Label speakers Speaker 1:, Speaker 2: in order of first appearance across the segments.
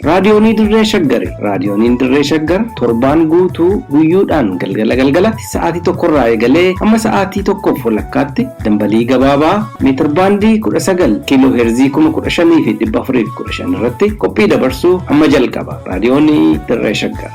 Speaker 1: Raadiyoonii Dirree Shaggari Raadiyooniin Dirree Shaggar torbaan guutuu guyyuudhaan galgala galgalatti sa'aatii tokkorraa eegalee hamma sa'aatii tokkoof walakkaatti dambalii gabaabaa meetirbaandii 19 kiiloo heerzii 15415 irratti qophii dabarsuu amma jalqaba. Raadiyoonii Dirree Shaggar.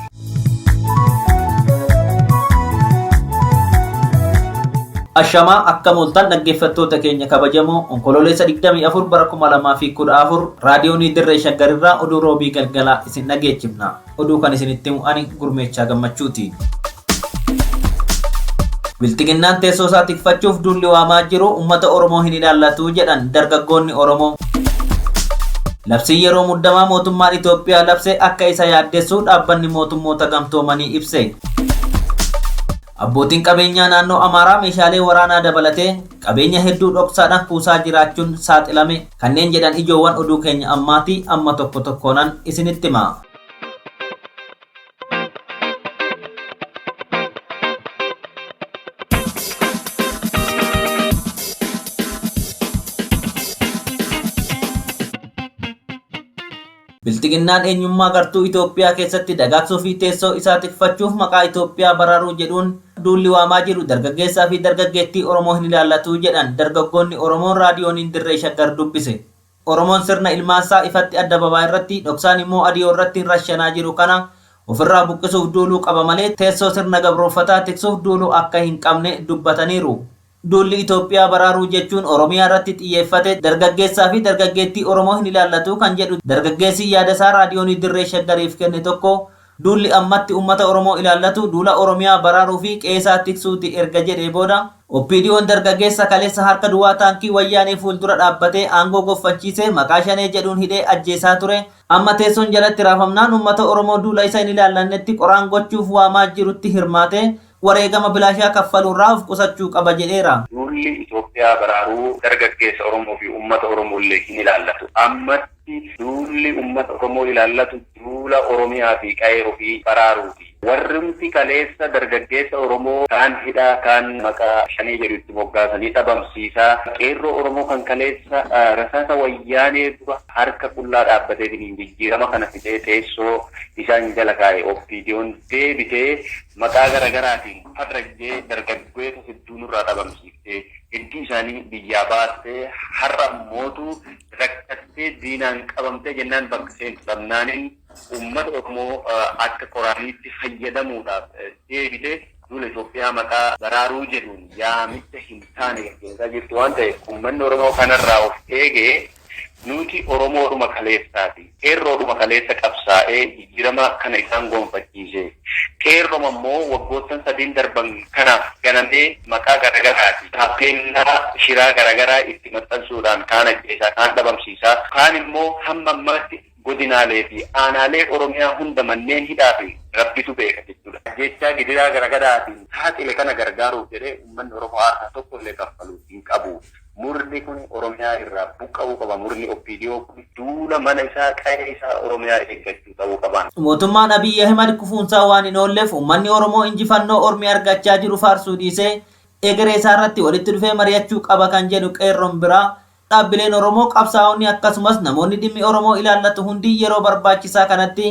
Speaker 2: Ashamaa akkam ooltan dhaggeeffattoota keenya kabajamoo onkololeessa 24 bara 2014 raadiyoonii dirree shaggarirraa oduu roobii galgalaa isin dhageechifna. Oduu kan isinitti mu'ani gurmeechaa gammachuuti. Bilxiginnaan teessoo isaa tikfachuuf duulli waamaa jiru uummata Oromoo hin ilaallatu jedhan dargaggoonni Oromoo. Labsiin yeroo muddamaa mootummaan Itoophiyaa labse akka isa yaaddessu Dhaabbanni Mootummoota Gamtoomanii ibse. Abbootiin qabeenyaa naannoo Amaaraa meeshaalee waraanaa dabalatee qabeenya hedduu dhoksaadhaan kuusaa jiraachuun saaxilame kanneen jedhan ijoowwan oduu keenya ammaati amma tokko tokkoonan isinitti hima. Bilxiginnaan eenyummaa gartuu Itoophiyaa keessatti dagaagsuu fi teessoo isaa tikfachuuf maqaa Itoophiyaa baraaruu jedhuun duulli waamaa jiru dargaggeessaa fi dargaggeettii Oromoo hin ilaallatu jedhan dargaggoonni Oromoo raadiyooniin dirree shaggar dubbise. Oromoon sirna ilmaansaa ifatti addababaa irratti, dhoksaan immoo adiyoo irratti rashanaa jiru kana ofirraa buqqisuuf duuluu qaba malee teessoo sirna gabrooffataa tiksuuf duuluu akka hin qabne dubbataniiru. Duulli Itoophiyaa baraaruu jechuun Oromiyaa irratti xiyyeeffate dargaggeessaa fi dargaggeettii Oromoo hin ilaallatu kan jedhu dargaggeessi yaada isaa Raadiyoonii Dirree Shaggariif kenne tokko, Duulli ammatti ummata Oromoo ilaallatu duula Oromiyaa baraaruu fi qe'eesaa tiksuuti erga jedhee booda, OPDOn dargaggeessa kaleessa harka duwwaa taankii Wayyaanee fuuldura dhaabbatee aangoo gonfachiise maqaa Shanee jedhuun hidhee ajjeesaa ture, amma teessoon jalatti raafamnaan ummata Oromoo duula isa hin ilaallannetti qoraan gochuuf waamaa jirutti hirmaatee, wareegama bilaashaa kaffaluurraa of qusachuu qaba jedheera. Duulli Itoophiyaa
Speaker 3: baraaruu dargaggeessa Oromoo fi uummata Oromoollee hin ilaallatu. Ammatti duulli uummata Oromoo ilaallatu duula Oromiyaa fi qa'ee ofii baraaruuti. Warrumti kaleessa dargaggeessa Oromoo kaan hidhaa, kaan maqaa Shanee jedhu itti moggaasanii dhabamsiisaa, qeerroo Oromoo kan kaleessa rasaasa Wayyaanee dura harka qullaa dhaabbateetiin jijjiirama kana fidee teessoo isaan jala kaa'e OPDOn deebitee Maqaa garagaraatiin faxrajjee dargaggoeta hedduu nurraa dhabamsiiftee, hedduu isaanii biyyaa baastee, har'a mootu rakkattee diinaan qabamtee jennaan bakka seentu dhabnaanin uummata Oromoo akka qoraaniitti fayyadamuudhaaf deebite duula Itoophiyaa maqaa baraaruu jedhuun yaamicha hin taane gaggeessaa jirtu waan ta'eef uummanni Oromoo kanarraa of eegee, Nuuti Oromoodhuma kaleessaati. Qeerroodhuma kaleessa qabsaa'ee jijjiirama kana isaan gonfachiise. Qeerroma immoo waggoottan sadiin darban kanaaf ganamee maqaa garagaraafi taappeellaa shiraa garagaraa itti maxxansuudhaan kaan ajjeesaa, kaan dhabamsiisaa, kaan immoo hamma ammaatti, godinaalee fi aanaalee Oromiyaa hunda manneen hidhaa fi Rabbitu beeka jechuudhaan ajjeechaa gidiraa garagaraatiin saaxile kana gargaaruuf jedhee uummanni Oromoo aarsaa tokko illee kaffaluu hin qabu. Murni kuni Oromiyaa irraa buqqa'uu qaba. Murni OPDO kuni duula mana isaa, qa'ee isaa Oromiyaa eeggachuu ta'uu qaba. Mootummaan Abiy Ahimad
Speaker 2: kufuunsaa waan hin oolleef uummanni Oromoo injifannoo ormi argachaa jiru faarsuu dhiisee egeree isaarratti walitti dhufee mari'achuu qaba kan jedhu qeerroon biraa Dhaabbileen Oromoo, qabsaa'onni akkasumas namoonni dhimmi Oromoo ilaallatu hundi yeroo barbaachisaa kanatti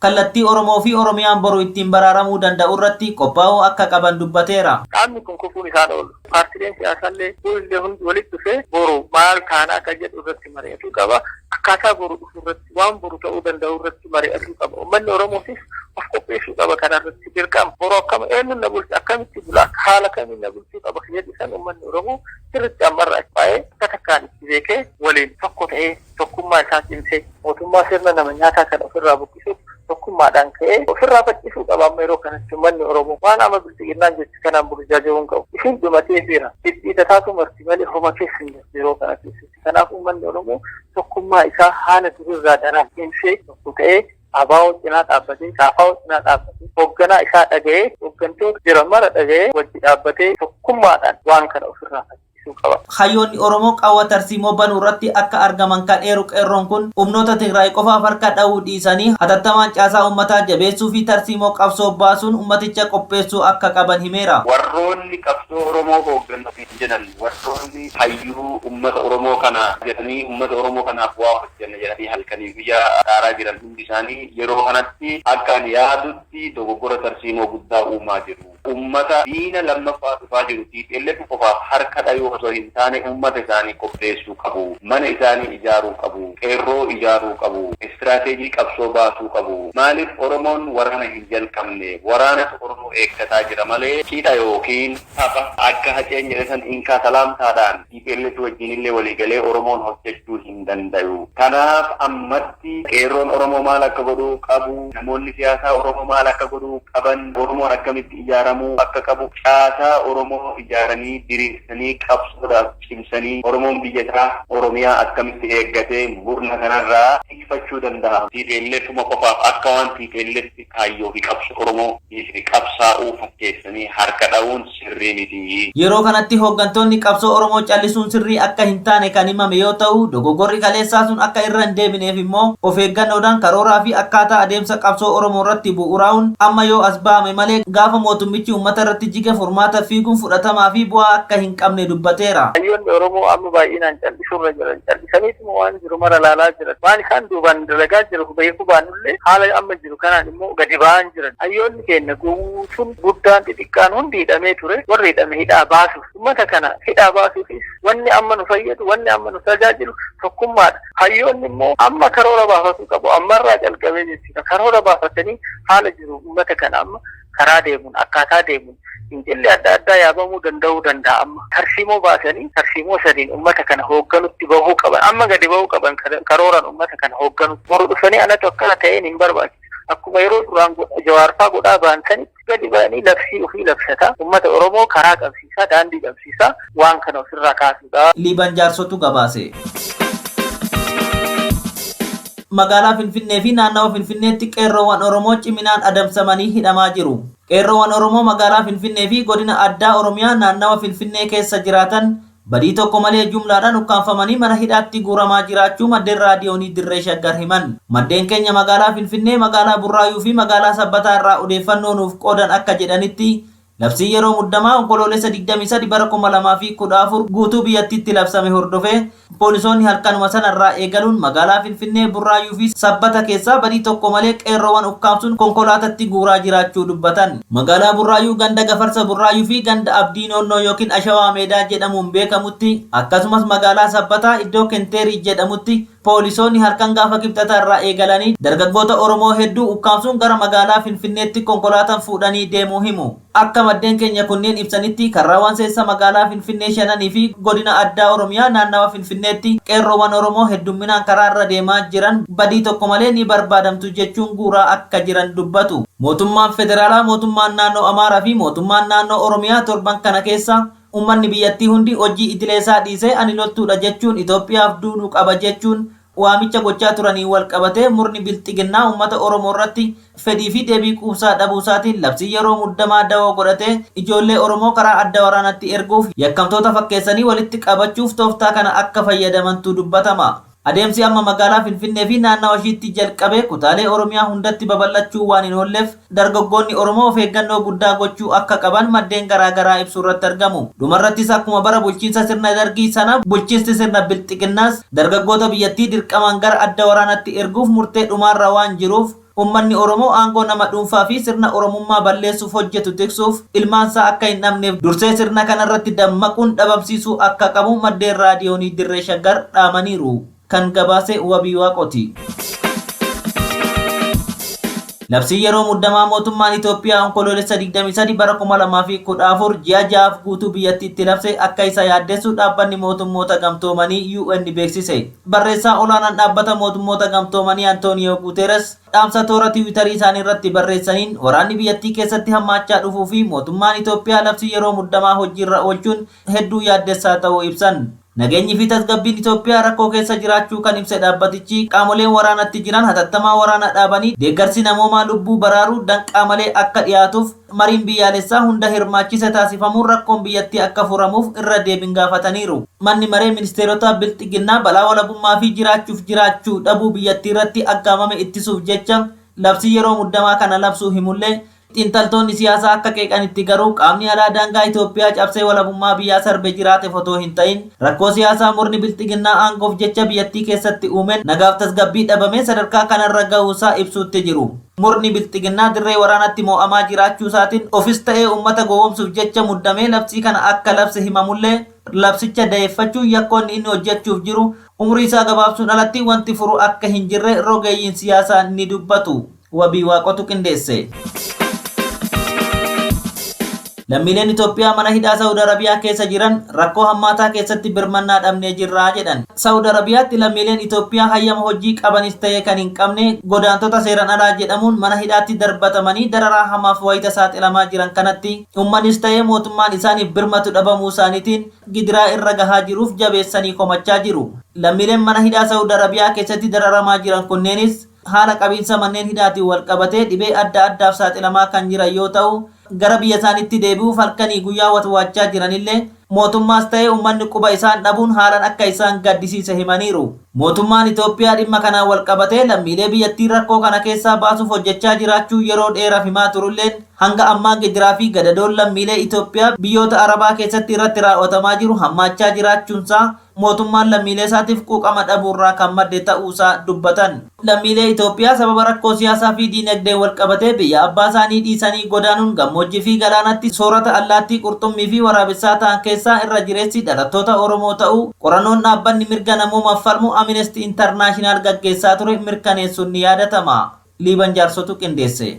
Speaker 2: kallattii Oromoo fi Oromiyaan boru ittiin baraaramuu danda'u irratti qophaa'uu akka qaban dubbateera. Dhaabni kun kufuun
Speaker 4: isaa hin oolu. Paartileen siyaasaa illee fuullee hundi walitti dhufee boru maal taana akka jedhu irratti mari'atuu qaba. Akkaataa boru dhufu irratti. waan boru ta'uu danda'u irratti mari'atuu qaba. Uummanni Oromootis of qopheessuu qaba kana irratti dirqama. Boru akkam eenyuun na bulcha akkamitti bula haala kamiin na bulchuu qaba kan jedhu san uummanni Oromoo sirriitti ammarraa baay'ee akka takkaan itti beekee waliin tokko ta'ee tokkummaa isaa cimsee mootummaa sirna nama nyaataa kan ofirraa buqqisuuf tokkummaadhaan ka'ee ofirraa faccisuu qaba amma yeroo kanatti uummanni Oromoo waan amma bilxiginnaan jechu kanaan burjaaja'uu hin qabu. Isin dhumatee jira. Dhidhiitataa tumarti malee homa keessa hin jirtu yeroo kanatti. Kanaaf uummanni Oromoo tokkummaa isaa haala durirraa daraan cimsee tokko ta'ee ABO cinaa dhaabbatee, KFO cinaa dhaabbatee, hoogganaa isaa dhaga'ee, hooggantoota jiran mara dhaga'ee wajji dhaabbatee tokkummaadhaan waan kana ofirraa faccisuu qaba. Hayyoonni Oromoo qawwa
Speaker 2: tarsiimoo banuu irratti akka argaman kan eeru Qeerroon kun, humnoota Tigraay qofaaf harka dhahuu dhiisanii hatattamaan caasaa uummataa jabeessuu fi tarsiimoo qabsoo baasuun uummaticha qopheessuu akka qaban himeera. Warroonni qabsoo
Speaker 3: Oromoo hoogganuu fi jedhan warroonni hayyuu ummata Oromoo kana jedhanii ummata Oromoo kanaaf waa hojjanna jedhanii halkanii guyyaa dhaaraa jiran hundi isaanii yeroo kanatti akka ani yaadutti dogoggora tarsiimoo guddaa uumaa jiru. Ummata diina lammaffaa dhufaa jiru tplf qofaaf harka dhayuu osoo hin taane ummata isaanii qopheessuu qabu. Mana isaanii ijaaruu qabu. Qeerroo ijaaruu qabu. Istiraateejii qabsoo baasuu qabu. Maaliif Oromoon waraana hin jalqabne? Waraanatu Oromoo eeggataa jira malee cidha ykn. Tapha akka Haceen jedhe san inkaa salaamtaadhaan tplf wajjiin illee walii galee Oromoon hojjachuu hin dandayu. Kanaaf ammatti Qeerroon Oromoo maal akka godhuu qabu, namoonni siyaasaa Oromoo maal akka godhuu qaban, Oromoon akkamitti ijaaramuu akka qabu, caasaa Oromoo ijaaranii, diriirsanii, qabsoodhaaf cimsanii Oromoon biyya isaa Oromiyaa akkamitti eeggatee murna kanarraa tikfachuu dandaha. Tplf-uma qofaaf akka waan tplf kaayyoo fi qabsoo Oromoo. dhiifne qabsaa'uu fakkeessanii harka dha'uun sirrii miti. Yeroo kanatti hooggantoonni
Speaker 2: qabsoo Oromoo callisuun sirrii akka hin taane kan himame yoo ta'u, dogoggorri kaleessaa sun akka irra hin deebineef immoo of eeggannoodhaan karooraa fi akkaataa adeemsa qabsoo Oromoo irratti bu'uuraa'uun amma yoo as ba'ame malee gaafa mootummichi uummata irratti jige furmaata fiiguun fudhatamaa fi bu'aa akka hin qabne dubbateera. Hayyoonni Oromoo amma
Speaker 4: baay'inaan callisuu irra jiran callisaniituma waan jiru mara ilaalaa jiran. Waan isaan duubaan dalagaa jiru beekuu baannullee haala amma jiru. Kanaan immoo gadi ba'aa hin jiran. Hayyoonni keenya guutuun guddaan xixiqqaan hundi hidhamee ture. Warri hidhame hidhaa baasuuf. Ummata kana hidhaa baasuufis wanni amma nu fayyadu, wanni amma nu tajaajilu tokkummaadha. Hayyoonni immoo amma karoora baafatuu qabu. Ammarraa calqabee jechuudha. Karoora baafatanii haala jiru ummata kana amma karaa deemuun akkaataa deemuun fincilli adda addaa yaabamuu danda'uu danda'a amma tarsiimoo baasanii tarsiimoo sadiin ummata kana hoogganutti bahuu qaban amma gadi bahuu qaban karooran ummata kana hoogganu boru dhufanii anatu akkana ta'een hin barbaachisu akkuma yeroo duraan jawaarfaa godhaa ba'an sanitti gadi ba'anii labsii ofii labsataa ummata oromoo karaa qabsiisaa daandii qabsiisaa waan kana ofirraa kaasuudha. Liiban Jaarsotu
Speaker 2: gabaase. Magaalaa Finfinnee fi naannawa Finfinneetti Qeerroowwan Oromoo ciminaan adamsamanii hidhamaa jiru. Qeerroowwan Oromoo magaalaa Finfinnee fi godina addaa Oromiyaa naannawa Finfinnee keessa jiraatan badii tokko malee jumlaadhaan ukkaamfamanii mana hidhaatti guuramaa jiraachuu maddeen Raadiyoonii Dirree Shaggar himan. Maddeen keenya magaalaa Finfinnee, magaalaa Burraayuu fi magaalaa Sabbataa irraa odeeffannoo nuuf qoodan akka jedhanitti, Labsii yeroo muddamaa Onkoloolessa 23 bara 2014 guutuu biyyattiitti labsame hordofee poolisoonni halkanuma sana irraa eegaluun magaalaa Finfinnee, Burraayyuu fi Sabbata keessaa badii tokko malee qeerroowwan ukkaamsuun konkolaatatti guuraa jiraachuu dubbatan. Magaalaa Burraayyuu ganda Gafarsa Burraayyuu fi ganda Abdii Noonnoo ykn Ashawaa Meedaa jedhamuun beekamutti akkasumas magaalaa Sabbataa iddoo Kenteerii jedhamutti Poolisoonni halkan gaafa Kibxataa irraa eegalanii dargaggoota Oromoo hedduu ukkaamsuun gara magaalaa Finfinneetti konkolaataan fuudhanii deemuu himu. Akka maddeen keenya kunneen ibsanitti karraawwan seessa magaalaa Finfinnee shananii fi godina addaa Oromiyaa naannawa Finfinneetti qeerroowwan Oromoo heddumminaan karaa irra deemaa jiran badii tokko malee ni barbaadamtu jechuun guuraa akka jiran dubbatu. Mootummaan Federaalaa, Mootummaan Naannoo Amaaraa fi Mootummaan Naannoo Oromiyaa torban kana keessa Ummanni biyyattii hundi hojii idileesaa dhiisee ani loltuudha jechuun Itoophiyaaf duulu qaba jechuun waamicha gochaa turaniin walqabatee murni Bilxiginnaa ummata Oromoorratti fedhii fi deebii quubsaa dhabuusaatiin labsii yeroo muddamaa dawoo godhatee ijoollee Oromoo karaa adda waraanaatti erguuf yakkamtoota fakkeessanii walitti qabachuuf tooftaa kana akka fayyadamantu dubbatama. Adeemsi amma magaalaa Finfinnee fi naannawa ishiitti jalqabe kutaalee Oromiyaa hundatti babal'achuu waan hin oolleef dargaggoonni Oromoo of eeggannoo guddaa gochuu akka qaban maddeen garaa garaa ibsuurratti argamu. Dhumarrattis akkuma bara bulchiinsa sirna Dargii sana bulchiinsti sirna Bilxiginnaas dargaggoota biyyattii dirqamaan gara adda waraanaatti erguuf murtee dhumaarra waan jiruuf, Ummanni Oromoo aangoo nama dhuunfaa fi sirna Oromummaa balleessuuf hojjetu tiksuuf ilmaan isaa akka hin dhabneef dursee sirna kana irratti dammaquun dhabamsiisuu akka qabu maddeen Raadiyoonii Dirree Shaggar dhaamaniiru. Kan gabaase Wabii Waaqooti. Labsiin yeroo muddamaa mootummaan Itoophiyaa Onkoloolessa 23 bara 2014 ji'a ja'aaf guutuu biyyattiitti labse akka isa yaaddessu Dhaabbanni Mootummoota Gamtoomanii, UN, beeksise. Barreessaa olaanaan Dhaabbata Mootummoota Gamtoomanii Antooniyoo Guuteeres dhaamsa toora Tiwiitarii isaanii irratti barreessaniin waraanni biyyattii keessatti hammaachaa dhufuu fi mootummaan Itoophiyaa labsii yeroo muddamaa hojiirra oolchuun hedduu yaaddessaa ta'uu ibsan. Nageenyi fi tasgabbiin Itoophiyaa rakkoo keessa jiraachuu kan ibse dhaabbatichi, qaamoleen waraanatti jiran hatattamaan waraana dhaabanii deeggarsi namoomaa lubbuu baraaruu danqaa malee akka dhiyaatuuf, Mariin biyyaalessaa hunda hirmaachise taasifamuun rakkoon biyyattii akka furamuuf irra deebin gaafataniiru. Manni Maree Ministeerotaa Bilxiginnaa balaa walabummaa fi jiraachuuf jiraachuu dhabuu biyyattiirratti aggaamame ittisuuf jecha labsii yeroo muddamaa kana labsuu himullee, xiinxaltoonni siyaasaa akka qeeqanitti garuu qaamni alaa daangaa Itoophiyaa cabsee walabummaa biyyaa sarbe jiraatef otoo hin ta'in rakkoo siyaasaa murni Bilxiginnaa aangoof jecha biyyattii keessatti uumeen nagaaf tasgabbii dhabamee sadarkaa kanarra gahuusaa ibsuutti jiru. Murni Bilxiginnaa dirree waraanaatti moo'amaa jiraachuusaatiin ofis ta'ee ummata gowwoomsuuf jecha muddamee labsii kana akka labse himamullee, labsicha dayeeffachuun yakkoonni inni hojjechuuf jiru umriisaa gabaabsuun alatti wanti furu akka hin jirre rogeeyyiin siyaasaa ni dubbatu. Wabii Waaqotu qindeesse. Lammiileen Itoophiyaa mana hidhaa Sa'ud Arabiyaa keessa jiran rakkoo hammaataa keessatti birmannaa dhabnee jirra jedhan. Sa'ud Arabiyaatti lammiileen Itoophiyaa hayyama hojii qabanis ta'ee kan hin qabne godaantota seeran alaa jedhamuun mana hidhaatti darbatamanii dararaa hamaaf wayita saaxilamaa jiran kanatti ummannis ta'ee mootummaan isaaniif birmatu dhabamuu isaaniitiin gidiraa irra gahaa jiruuf jabeessanii komachaa jiru. Lammiileen mana hidhaa Sa'ud Arabiyaa keessatti dararamaa jiran kunneenis haala qabiinsa manneen hidhaatiin walqabatee dhibee adda addaaf saaxilamaa kan jiran yoo ta'u, gara biyyasaaniitti deebi'uuf halkanii guyyaa watwaachaa jiranillee mootummaas ta'ee ummanni quba isaan dhabuun haalan akka isaan gaddisiise himaniiru. Mootummaan Itoophiyaa dhimma kanaan walqabatee lammiilee biyyattii rakkoo kana keessaa baasuuf hojjechaa jiraachuu yeroo dheeraf himaa turulleen hanga ammaa gidiraa fi gadadoon lammiilee Itoophiyaa biyyoota Arabaa keessatti irratti raaw'atamaa jiru hammaachaa jiraachuunsaa mootummaan lammiileesaatiif quuqama dhabuurraa kan madde ta'uusaa dubbatan. Lammiilee Itoophiyaa sababa rakkoo siyaasaafi diinagdeen walqabatee biyya abbaasaanii dhiisanii godaanuun gammoojjiifi galaanatti soorata allaattii qurxummiifi waraabessaa ta'an keessaa irra jireessi dhalattoota Oromoo ta'uu qorannoon dhaabbanni mirga namoomaaf falmu Aminestii Intarnaashinaal gaggeessaa ture mirkaneessuun ni yaadatama. Liiban Jaarsotu qindeesse.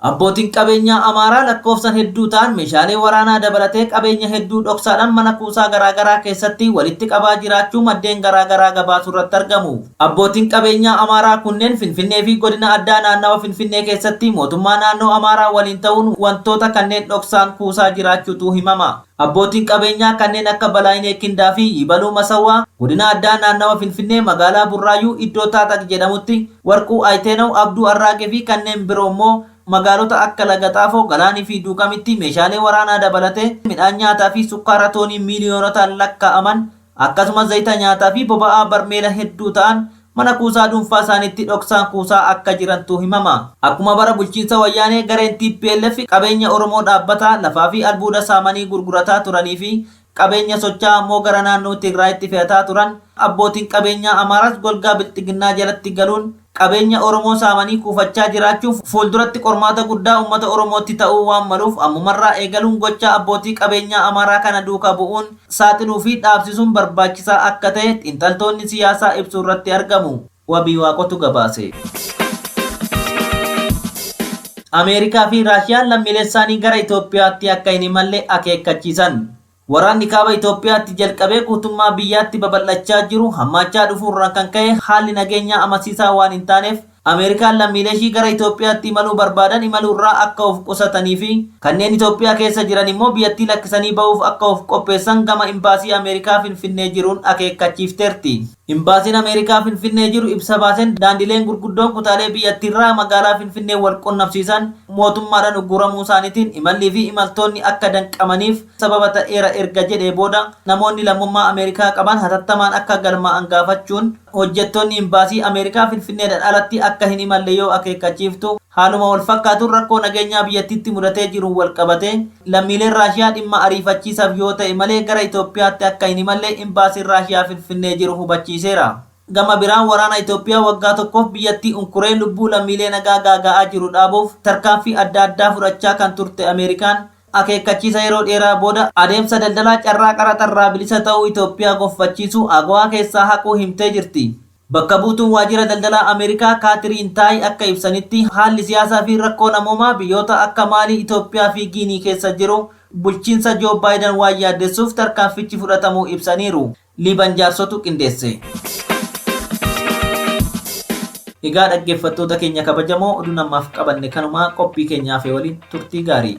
Speaker 2: Abbootiin qabeenyaa Amaaraa lakkoofsan hedduu ta'an meeshaalee waraanaa dabalatee qabeenya hedduu dhoksaadhaan mana kuusaa garaagaraa keessatti walitti qabaa jiraachuu maddeen garaagaraa gabaasurratti argamu. Abbootiin qabeenyaa Amaaraa kunneen Finfinnee fi godina addaa naannawa Finfinnee keessatti mootummaa naannoo Amaaraa waliin ta'uun wantoota kanneen dhoksaan kuusaa jiraachuutu himama. Abbootiin qabeenyaa kanneen akka Balaayinee Kindaa fi Yibaluu Masawwaa Godina Addaa Naannawa Finfinnee Magaalaa Burraayyuu iddoo Taaxaq jedhamutti, Warquu Ayitenaw, Abduu Arraage fi kanneen biroo immoo magaalota akka Lagaxaafoo, Galaani fi Duukamitti meeshaalee waraanaa dabalatee midhaan nyaataa fi sukkaara toonii miiliyoonotaan lakkaa'aman Akkasumas zayita nyaataa fi boba'aa barmeela hedduu ta'an mana kuusaa dhuunfaa isaaniitti dhoksaan kuusaa akka jirantu himama. Akkuma bara bulchiinsa Wayyaanee gareen tplf qabeenya Oromoo dhaabbataa lafaa fi albuuda saamanii gurgurataa turanii fi qabeenya socha'aa ammoo gara naannoo Tigraayitti fe'ataa turan, abbootiin qabeenyaa Amaaraas golgaa Bilxiginnaa jalatti galuun, qabeenya Oromoo saamanii kuufachaa jiraachuun fuulduratti qormaata guddaa ummata Oromootti ta'uu waan maluuf ammumarraa eegaluun gochaa abbootii qabeenyaa Amaaraa kana duuka bu'uun saaxiluu fi dhaabsisuun barbaachisaa akka ta'e xiinxaltoonni siyaasaa ibsuurratti argamu. Wabiiwaaqotu gabaase. Ameerikaa fi Raashiyaan lammiileessaanii gara Itoophiyaatti akka hin imalle akeekkachiisan. Waraanni Kaaba Itoophiyaatti jalqabee guutummaa biyyaatti babal'achaa jiru hammaachaa dhufuu irraan kan ka'e haalli nageenyaa amansiisaa waan hin taaneef Ameerikaan lammiileeshii gara Itoophiyaatti imaluu barbaadan imaluu irraa akka of qusataniifi kanneen Itoophiyaa keessa jiran immoo biyyattii lakkisanii ba'uuf akka of qopheessan gama Imbaasii Ameerikaa Finfinnee jiruun akeekkachiifteerti. Imbaasiin Ameerikaa Finfinnee jiru ibsa baaseen daandileen gurguddoon kutaalee biyyattiirraa magaalaa Finfinnee wal qunnamsiisan mootummaadhaan ugguramuusaaniitiin imallii fi imaltoonni akka danqamaniif sababa ta'eera erga jedhee booda namoonni lammummaa Ameerikaa qaban hatattamaan akka galmaa'an gaafachuun hojjettoonni Imbaasii Ameerikaa Finfinneedhaan alatti akka hin imalle yoo akeekkachiiftu haaluma wal fakkaatuun rakkoo nageenyaa biyyattiitti mudatee jiruun wal qabatee Lammiileen Raashiyaa dhimma ariifachiisaaf yoo ta'e malee gara Itoophiyaatti akka hin imalle Imbaasiin Raashiyaa Finfinnee jiru hubachiiseera. Gama biraan waraana Itoophiyaa waggaa tokkoof biyyattii unkuree lubbuu lammiilee nagaa gaaga'aa jiru dhaabuuf tarkaanfii adda addaa fudhachaa kan turte Ameerikaan, akeekkachiisa yeroo dheeraa booda adeemsa daldalaa carraa qaraxa irraa bilisa ta'uu Itoophiyaa gonfachiisu AGOA keessaa haquu himtee jirti. Bakka buutuun waajjira daldalaa Ameerikaa Kaatiriin Taay akka ibsanitti, haalli siyaasaa fi rakkoo namoomaa biyyoota akka Maalii, Itoophiyaa fi Giinii keessa jiru bulchiinsa Joo Baayidan waan yaaddessuuf tarkaanfichi fudhatamuu ibsaniiru. Liiban Jaarsotu qindeesse. Egaa dhaggeeffattoota keenya kabajamoo oduun ammaaf qabanne kanuma qophii keenya hafe waliin turtii gaarii.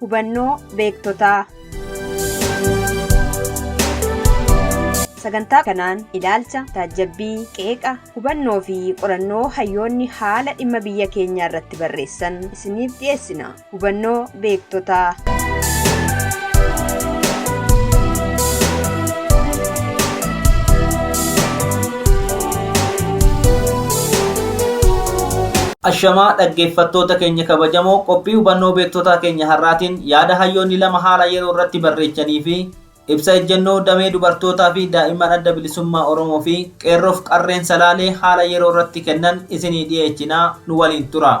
Speaker 5: Hubannoo beektotaa. Sagantaa kanaan ilaalcha, taajjabbii, qeeqa, hubannoo fi qorannoo hayyoonni haala dhimma biyya keenyaa irratti barreessan isiniif dhiyeessina. Hubannoo beektotaa.
Speaker 2: Ashamaa dhaggeeffattoota keenya kabajamoo qophii hubannoo beektotaa keenya har'aatiin yaada hayyoonni lama haala yeroo irratti barreechanii fi ibsa ejjennoo damee dubartootaa fi daa'imman adda bilisummaa Oromoo fi qeerroof qarreen salaalee haala yeroo irratti kennan isinii dhiyeechinaa nu waliin tura.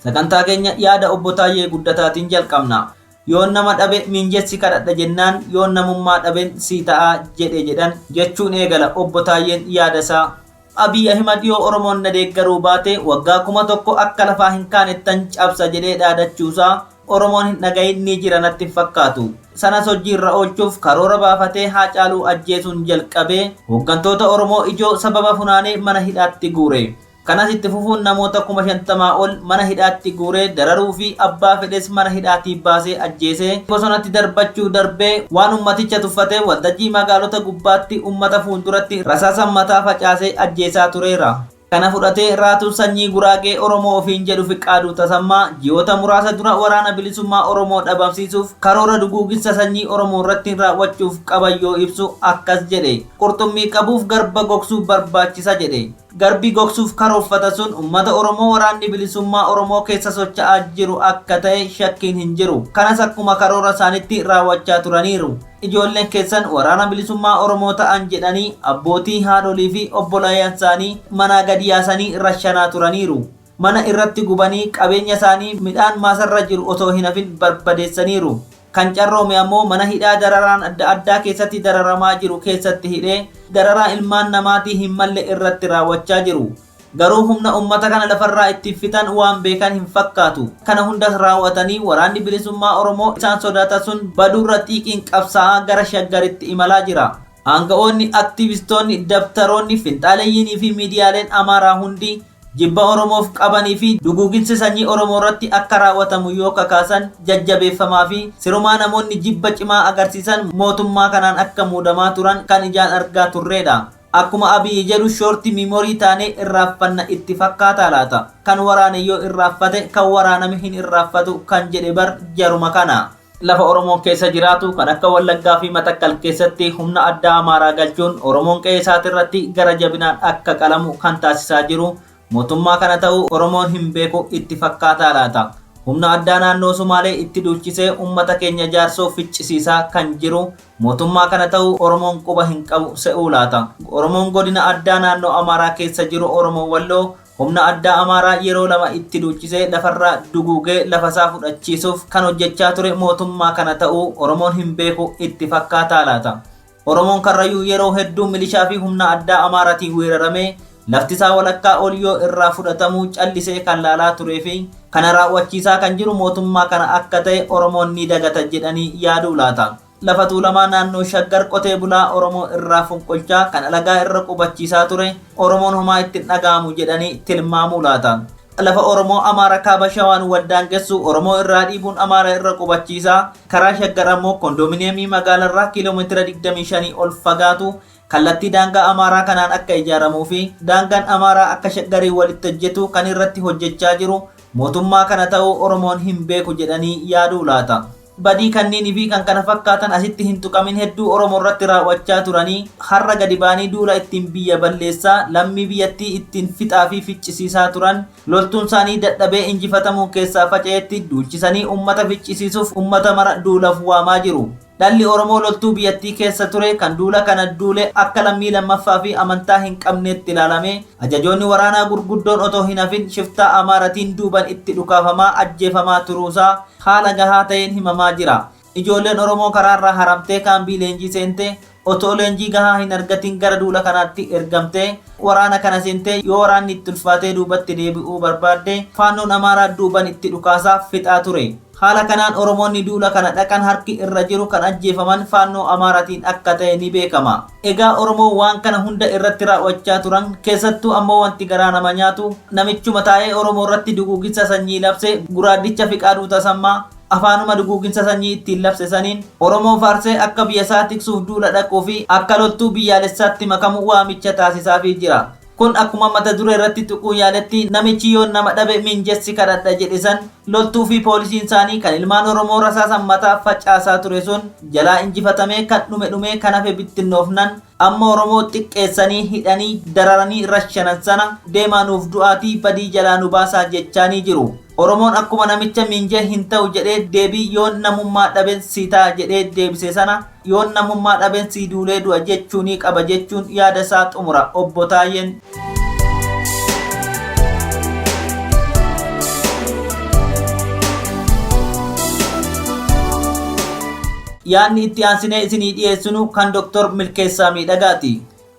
Speaker 2: Sagantaa keenya yaada obbo Taayyee Guddataatiin jalqabna. Yoon nama dhabe miinjessi kadhadha jennaan yoon namummaa dhaben sii ta'a jedhe jedhan jechuun eegala obbo Taayyeen yaada isaa. Abiy Ahimad yoo Oromoon na deeggaruu baate waggaa kuma tokko akka lafaa hin kaanettan cabsa jedhee dhaadachuusaa Oromoon hin dhaga'iin ni jira natti hin fakkaatu. Sanas hojji irra oolchuuf karoora baafatee Haacaaluu ajjeesuun jalqabee hooggantoota Oromoo ijoo sababa funaanee mana hidhaatti guure. Kanas itti fufuun namoota kuma shantamaa ol mana hidhaatti guuree dararuu fi abbaa fedhes mana hidhaatii baasee ajjeesee bosonatti darbachuu darbee waan ummaticha tuffatee waltajjii magaalota gubbaatti ummata fuulduratti rasaasan mataa facaasee ajjeesaa tureera. Kana fudhatee Raatuun Sanyii Guraagee Oromoo ofiin jedhu Fiqaaduu Tasammaa ji'oota muraasa dura Waraana Bilisummaa Oromoo dhabamsiisuuf karoora duguuginsa sanyii Oromoo irratti raawwachuuf qaban yoo ibsu akkas jedhe, Qurxummii qabuuf garba gogsuu barbaachisa jedhe. Garbi gogsuuf karoorfata sun ummata Oromoo Waraanni Bilisummaa Oromoo keessa socha'aa jiru akka ta'e shakkiin hin jiru. Kanas akkuma karoora isaanitti raawwachaa turaniiru. Ijoolleen keessan Waraana Bilisummaa Oromoo ta'an jedhanii abbootii, haadholii fi obbolaaean isaanii manaa gad yaasanii rashanaa turaniiru. Mana irratti gubanii qabeenya isaanii midhaan maasarra jiru otoo hin hafin barbadeessaniiru. Kan carroome ammoo mana hidhaa dararaan adda addaa keessatti dararamaa jiru keessatti hidhee dararaa ilmaan namaatii hin malle irratti raawwachaa jiru. Garuu humna ummata kana lafarraa ittiin fixan waan beekan hin fakkaatu. Kana hundas raaw'atanii Waraanni Bilisummaa Oromoo isaan sodaata sun baduurra xiiqiin qabsaa'aa gara Shaggaritti imalaa jira. Aanga'oonni, aktiivistoonni, dabtaroonni, finxaaleyyiinii fi miidiyaaleen Amaaraa hundi jibba Oromoof qabanii fi duguuginsi sanyii Oromoorratti akka raaw'atamu yoo kakaasan jajjabeeffamaa fi sirumaa namoonni jibba cimaa agarsiisan mootummaa kanaan akka muudamaa turan kan ijaan argaa turreedha. Akkuma Abiy jedhu short memory taanee irraaffanna itti fakkaataa laata? Kan waraane yoo irraaffate kan waraaname hin irraaffatu kan jedhe bar jaruma kana. Lafa Oromoon keessa jiraatu kan akka Wallaggaa fi Matakkal keessatti humna addaa Amaaraa galchuun Oromoon qe'ee isaatirratti gara jabinaan akka qalamu kan taasisaa jiru Mootummaa kana ta'uu Oromoon hin beeku itti fakkaataa laata? Humna addaa naannoo Sumaalee itti duulchisee ummata keenya jaarsoo ficcisiisaa kan jiru mootummaa kana ta'uu Oromoon quba hin qabu se'uu laata? Oromoon godina addaa naannoo Amaaraa keessa jiru Oromoo Walloo humna addaa Amaaraa yeroo lama itti duulchisee lafarraa duguugee lafasaa fudhachiisuuf kan hojjechaa ture mootummaa kana ta'uu Oromoon hin beeku itti fakkaataa laata? Oromoon Karrayyuu yeroo hedduu milishaa fi humna addaa Amaaratiin weeraramee laftisaa walakkaa ol yoo irraa fudhatamu callisee kan laalaa turee fi kana raaw'achiisaa kan jiru mootummaa kana akka ta'e Oromoon ni dagata jedhanii yaaduu laata? Lafa Tuulamaa naannoo Shaggar qotee bulaa Oromoo irraa fonqolchaa kan alagaa irra qubachiisaa ture Oromoon homaa itti hin dhaga'amu jedhanii tilmaamuu laata? Lafa Oromoo Amaara Kaaba Shawaan waldaangessu Oromoo irraa dhiibuun Amaara irra qubachiisa. Karaa Shaggar ammoo Kondoominiyeemii magaalarraa kiilomeetira 25 ol fagaatu kallattii daangaa Amaaraa kanaan akka ijaaramuu fi daangaan Amaaraa akka Shaggariin walitti hojjetu kan irratti hojjechaa jiru mootummaa kana ta'uu Oromoon hin beeku jedhanii yaaduu laata? Badii kanniini fi kan kana fakkaatan asitti hin tuqamin hedduu Oromo irratti raaw'achaa turanii har'a gadi ba'anii duula ittiin biyya balleessaa, lammii biyyattii ittiin fixaa fi ficcisiisaa turan loltuun isaanii dadhabee injifatamuun keessaa faca'etti duulchisanii ummata ficcisiisuuf ummata mara duulaf waamaa jiru. Dhalli Oromoo loltuu biyyattii keessa ture kan duula kana duule akka lammii lammaffaa fi amantaa hin qabneetti ilaalamee ajajoonni waraanaa gurguddoon otoo hin hafin shiftaa Amaaratiin duuban itti dhukaafamaa ajjeefamaa turuu isaa haala gahaa ta'een himamaa jira. Ijoolleen Oromoo karaarraa haramtee kaambii leenjii seente, otoo leenjii gahaa hin argatin gara duula kanaatti ergamte, waraana kana seente, yoo waraanni itti ulfaatee duubatti deebi'uu barbaadde, Faannoon Amaaraa duuban itti dhukaasaa fixaa ture. Haala kanaan Oromoonni duula kana dhaqan harki irra jiru kan ajjeefaman Faannoo Amaaratiin akka ta'e ni beekama. Egaa Oromoo waan kana hunda irratti raaw'achaa turan, keessattuu ammoo wanti garaa nama nyaatu, namichuma taa'ee Oromoo irratti duguuginsa sanyii labse guraaddicha Fiqaaduu Tasammaa, afaanuma duguuginsa sanyii ittiin labse saniin, Oromoo faarsee akka biyya isaa tiksuuf duula dhaquu fi akka loltuu biyyaalessaatti makamu waamicha taasisaafii jira. Kun akkuma mata duree irratti tuquun yaaletti namichi yoon nama dhabe miinjessi kadhadha jedhe san loltuu fi poolisiin isaanii kan ilmaan Oromoo rasaasan mataaf facaasaa ture sun jalaa injifatamee kan dhume dhumee kan hafe bittinnoofnan amma Oromoo xiqqeessanii hidhanii dararanii rashanan sana deemaa nuuf du'aatii badii jalaa nu baasaa jechaanii jiru. Oromoon akkuma namicha miinjee hin ta'u jedhee deebii yoon namummaa dhaben si ta'a jedhee deebise sana Yoon namummaa dhabeen sii duulee du'a jechuunii qaba jechuun yaada isaa xumura Obbo Taayyeen. Yaadni itti aansinee isinii dhiyeessinu kan Dr. Milkeessaa Miidhagaati.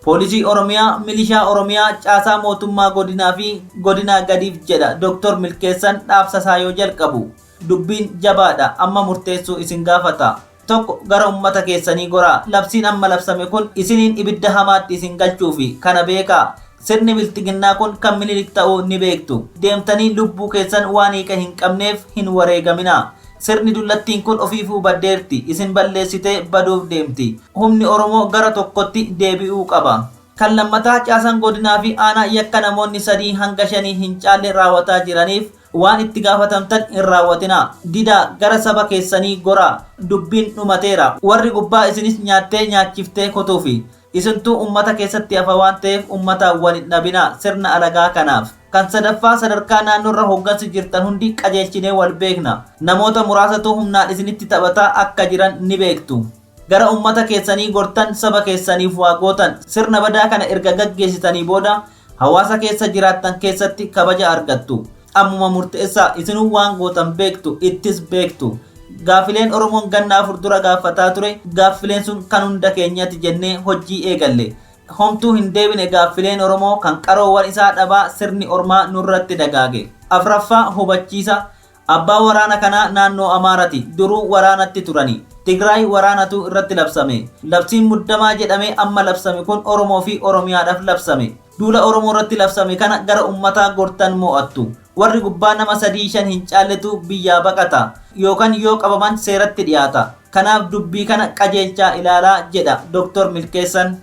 Speaker 2: Poolisii Oromiyaa, Milishaa Oromiyaa, Caasaa Mootummaa Godinaa fi Godinaa gadiif jedha Dr. Milkeessan dhaabsasaa yoo jalqabu. Dubbiin jabaadha, amma murteessuu isin gaafata. 1 gara ummata keessanii goraa. Labsiin amma labsame kun isiniin ibidda hamaatti isin galchuufi. Kana beekaa. Sirni bilxiginnaa kun kan Minilik ta'uu ni beektu. Deemtanii lubbuu keessan waan hiika hin qabneef hin wareegaminaa. Sirni dullattiin kun ofiifuu baddeerti. Isin balleessitee baduuf deemti. Humni Oromoo gara tokkotti deebi'uu qaba. Kan lammataa caasaan godinaa fi aanaa yakka namoonni sadii hanga shanii hin caalle raawataa jiraniif Waan itti gaafatamtan hin raawwatinaa. Didaa, gara saba keessanii goraa. Dubbiin dhumateera. Warri gubbaa isinis nyaattee nyaachiftee kotuufi. Isintu ummata keessatti hafa waan ta'eef ummataan wal hin dhabinaa, sirna alagaa kanaaf. Kan sadaffaa, sadarkaa naannoorra hooggansi jirtan hundi qajeelchinee wal beekna. Namoota muraasatu humnaan isinitti taphataa akka jiran ni beektu. Gara ummata keessanii gortan, saba keessaniif waa gootan. Sirna badaa kana erga gaggeessitanii booda, Hawaasa keessa jiraattan keessatti kabaja argattu. Ammuma murteessaa. Isinuu waan gootan beektu, ittis beektu. Gaafileen Oromoon ganna afur dura gaaffataa ture, gaaffileen sun kan hunda keenyati jennee hojjii eegalle. Homtuu hin deebine gaaffileen Oromoo kan qaroowan isaa dhabaa sirni ormaa nurratti dagaage. Afraffaa, hubachiisa. Abbaa waraana kanaa naannoo Amaarati. Duruu waraanatti turani. Tigraay waraanatu irratti labsame. Labsiin muddamaa jedhame amma labsame kun Oromoo fi Oromiyaadhaf labsame. Duula Oromoo irratti labsame kana gara ummataa gortan moo'attu. Warri gubbaa nama sadii shan hin caalletu biyyaa baqata. Yookan yoo qabaman seeratti dhiyaata. Kanaaf dubbii kana qajeelchaa ilaalaa jedha Doktor Milkeessan.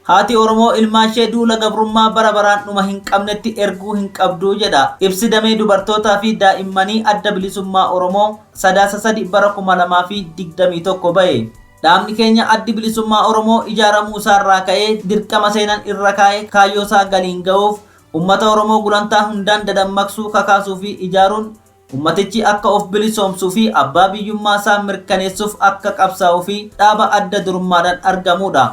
Speaker 2: Haati Oromoo ilmaanshee duula gabrummaa bara baraan dhuma hin qabnetti erguu hin qabdu jedha ibsi damee dubartootaa fi daa'immanii Adda Bilisummaa Oromoo Sadaasa 3 bara 2021 ba'e. Dhaabni keenya Addi Bilisummaa Oromoo ijaaramuu isaa irraa ka'ee dirqama seenan irra kaa'e kaayyoo isaa galiin ga'uuf ummata Oromoo gulantaa hundaan dadammaqsuu, kakaasuu fi ijaaruun ummatichi akka of bilisoomsuu fi abbaa biyyummaa isaa mirkaneessuuf akka qabsaa'uu fi dhaaba adda durummaadhaan argamuu dha.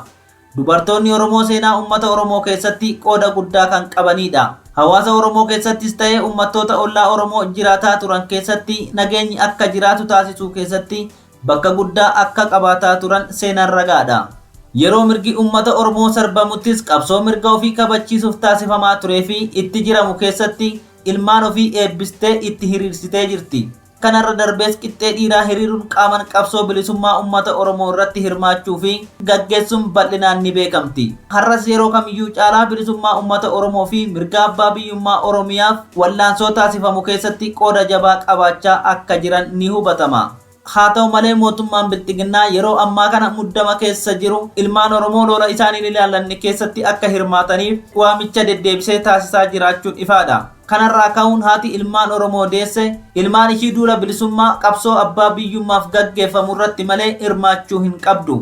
Speaker 2: Dubartoonni Oromoo seenaa ummata Oromoo keessatti qooda guddaa kan qabaniidha. Hawaasa Oromoo keessattis ta'ee ummattoota ollaa Oromoo jiraataa turan keessatti nageenyi akka jiraatu taasisuu keessatti bakka guddaa akka qabaataa turan seenaan ragaadha. Yeroo mirgi ummata Oromoo sarbamuttis qabsoo mirga ofii kabachiisuuf taasifamaa tureefi itti jiramu keessatti ilmaan ofii eebbistee itti hiriirsitee jirti. Kanarra darbees qixxee dhiiraa hiriiruun qaaman qabsoo bilisummaa ummata Oromoo irratti hirmaachuu fi gaggeessuun bal'inaan ni beekamti. Har'as yeroo kamiyyuu caalaa bilisummaa ummata Oromoo fi mirga abbaa biyyummaa Oromiyaaf wallaansoo taasifamu keessatti qooda jabaa qabaachaa akka jiran ni hubatama. Haa ta'u malee mootummaan Bilxiginnaa yeroo ammaa kana muddama keessa jiru ilmaan Oromoo lola isaan hin ilaallanne keessatti akka hirmaataniif waamicha deddeebisee taasisaa jiraachuun ifaa dha. Kanarraa ka'uun haati ilmaan Oromoo deesse ilmaan ishii duula bilisummaa qabsoo abbaa biyyummaaf gaggeeffamu irratti malee hirmaachuu hin qabdu.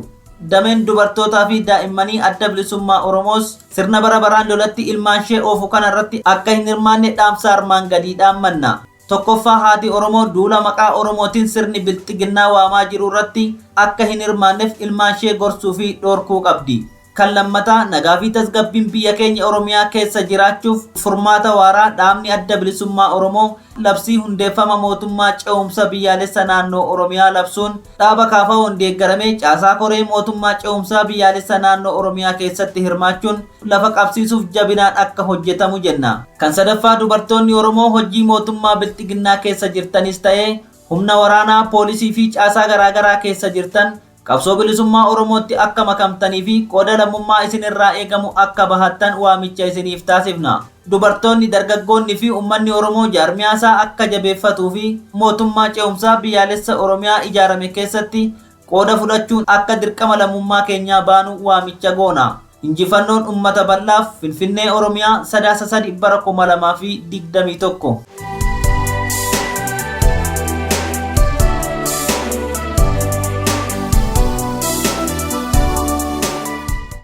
Speaker 2: Dameen dubartootaa fi daa'immanii Adda Bilisummaa Oromoos sirna bara baraan lolatti ilmaanshee oofu kana irratti akka hin hirmaanne dhaamsa armaan gadii dhaammanna. Tokkoffaa haati Oromoo duula maqaa Oromootiin sirni bilxiginnaa waamaa jiru irratti akka hin hirmaannef ilmaanshee gorsuu fi dhorkuu qabdi. Kan lammataa nagaa fi tasgabbiin biyya keenya Oromiyaa keessa jiraachuuf furmaata waaraa dhaabni Adda Bilisummaa Oromoo labsii hundeeffama mootummaa ce'umsa biyyaalessa naannoo Oromiyaa labsuun dhaaba KFOn deeggaramee caasaa koree mootummaa ce'umsaa biyyaalessa naannoo Oromiyaa keessatti hirmaachuun lafa qabsiisuuf jabinaan akka hojjetamu jenna. Kan sadaffaa dubartoonni Oromoo hojii mootummaa bilxiginnaa keessa jirtanis ta'ee humna waraanaa, poolisii fi caasaa garaagaraa keessa jirtan Qabsoo Bilisummaa Oromootti akka makamtanii fi qooda lammummaa isin irraa eegamu akka bahattan waamicha isiniif taasifna. Dubartoonni, dargaggoonni fi ummanni Oromoo jaarmiyaa isaa akka jabeeffatuu fi Mootummaa Ce'umsaa Biyyaalessa Oromiyaa ijaarame keessatti qooda fudhachuun akka dirqama lammummaa keenyaa baanu waamicha goona. Injifannoon Ummata Bal'aaf, Finfinnee, Oromiyaa, Sadaasa 3 bara 2021.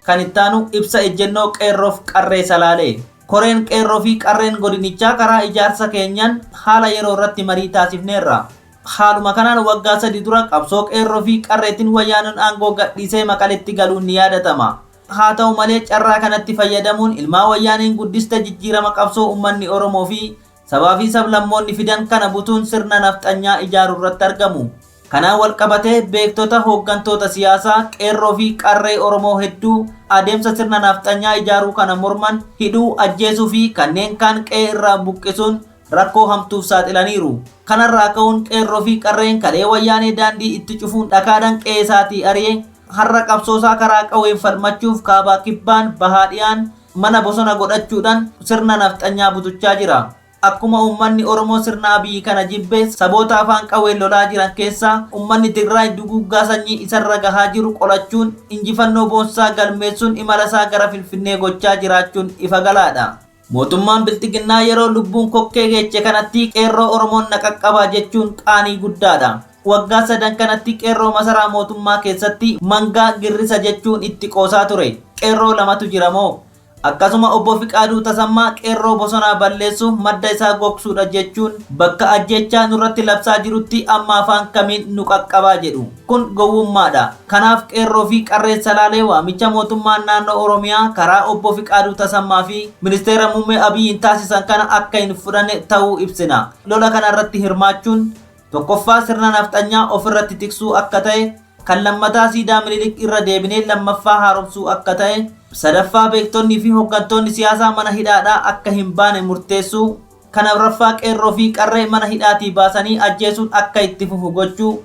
Speaker 2: Kan ittaanu ibsa ejjennoo Qeerroof Qarree Salaalee. Koreen Qeerroo fi Qarreen Godinichaa karaa ijaarsa keenyaan haala yeroo irratti marii taasifneerra. Haaluma kanaan waggaa sadii dura qabsoo Qeerroo fi Qarreetiin Wayyaanen aangoo gadhiisee Maqaletti galuun ni yaadatama. Haa ta'u malee carraa kanatti fayyadamuun ilmaa Wayyaaneen guddiste jijjiirama qabsoo ummanni Oromoo fi sabaa fi sablammoonni fidan kana butuun sirna nafxanyaa ijaaruu irratti argamu. Kanaan wal qabatee beektota, hooggantoota siyaasaa, Qeerroo fi Qarree Oromoo hedduu adeemsa sirna nafxanyaa ijaaruu kana morman hidhuu, ajjeesuu fi kanneen kaan qe'ee irraa buqqisuun rakkoo hamtuuf saaxilaniiru. Kanarraa ka'uun qeerroo fi qarreen kalee wayyaanee daandii itti cufuun dhakaadhan qe'ee isaatii ari'e har'a qabsoosaa karaa qawween falmachuuf kaabaa kibbaan bahaa dhiyaan mana bosona godhachuudhan sirna nafxanyaa butuchaa jira. Akkuma uummanni Oromoo sirna Abiy kana jibbe saboota afaan qawween lolaa jiran keessaa uummanni Tigraay duguuggaa sanyii isarra gahaa jiru qolachuun injifannoo boonsaa galmeessuun imalasaa gara Finfinnee gochaa jiraachuun ifa galaadha. Mootummaan Bilxiginnaa yeroo lubbuun kokkee geeche kanatti Qeerroo Oromoon na qaqqabaa jechuun qaanii guddaadha. Waggaa sadan kanatti Qeerroo masaraa mootummaa keessatti mangaa girrisa jechuun itti qoosaa ture. Qeerroo lamatu jira moo? Akkasuma Obbo Fiqaaduu Tasammaa Qeerroo bosonaa balleessuuf madda isaa gogsuudha jechuun bakka ajjeechaa nurratti labsaa jirutti amma afaan kamiin nu qaqqabaa jedhu. Kun gowwummaa dha. Kanaaf Qeerroo fi Qarreen Salaalee waamicha mootummaan naannoo Oromiyaa karaa Obbo Fiqaaduu Tasammaa fi Ministeera Muummee Abiyiin taasisan kana akka hin fudhanne ta'uu ibsina. Lola kana irratti hirmaachuun tokkoffaa sirna nafxanyaa of irratti tiksuu akka ta'e, kan lammataa siidaa Minilik irra deebinee lammaffaa haaromsuu akka ta'e, sadaffaa beektonni fi hoggantoonni siyaasaa mana hidhaadhaa akka hin baane murteessuu, kan afraffaa Qeerroo fi Qarree mana hidhaatii baasanii ajjeesuun akka itti fufu gochuu,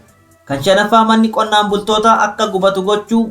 Speaker 2: Kan shanaffaa manni qonnaan bultootaa akka gubatu gochuu,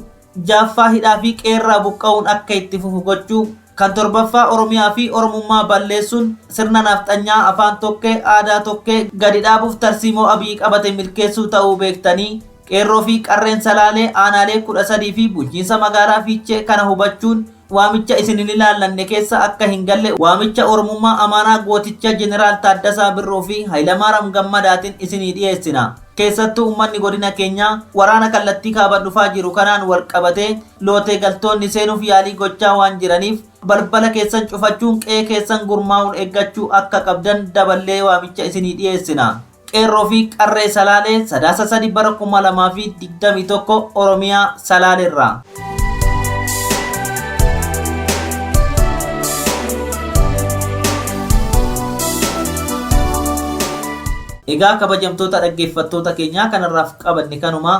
Speaker 2: ja'affaa hidhaa fi qe'eerraa buqqa'uun akka itti fufu gochuu, kan torbaffaa Oromiyaa fi Oromummaa balleessuun sirna nafxanyaa afaan tokkee, aadaa tokkee gadi dhaabuuf tarsiimoo Abiy qabate milkeessuu ta'uu beektanii Qeerroo fi Qarreen Salaalee, Aanaalee 13 fi Bulchiinsa Magaalaa Fiichee kana hubachuun waamicha isin hin ilaallanne keessa akka hin galle waamicha Oromummaa Amaaraa gooticha Jeneraal Taaddasaa Birruu fi Hayilamaaram Gammadaatin isinii dhiyeessina. Keessattuu ummanni godina keenyaa waraana kallattii kaaban dhufaa jiru kanaan wal qabatee lootee galtoonni seenuuf yaalii gochaa waan jiraniif balbala keessan cufachuun qe'ee keessan gurmaa'uun eeggachuu akka qabdan daballee waamicha isinii dhiyeessina. Qeerroo fi Qarree Salaalee Sadaasa 3 bara 2021 Oromiyaa Salaaleerraa. Egaa kabajamtoota dhaggeeffattoota keenyaa kanarraaf qabanne kanumaa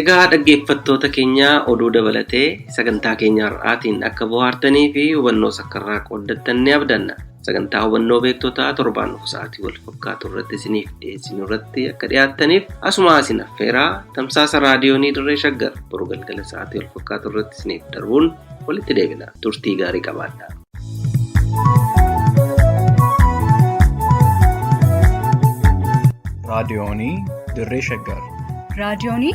Speaker 1: Egaa dhaggeeffattoota keenya oduu dabalatee sagantaa keenya har'aatiin akka bohaartanii fi hubannoos akka irraa qooddattan ni abdanna. Sagantaa hubannoo beektotaa torbaan dhufu sa'aatii wal fakkaatu irratti isiniif dhiyeessinu irratti akka dhiyaattaniif asuma isin affeeraa tamsaasa raadiyoonii dirree shaggar boru galgala sa'aatii wal fakkaatu irratti isiniif darbuun walitti deebina turtii gaarii qabaadhaa. raadiyoonii
Speaker 6: dirree shaggar.
Speaker 7: raadiyoonii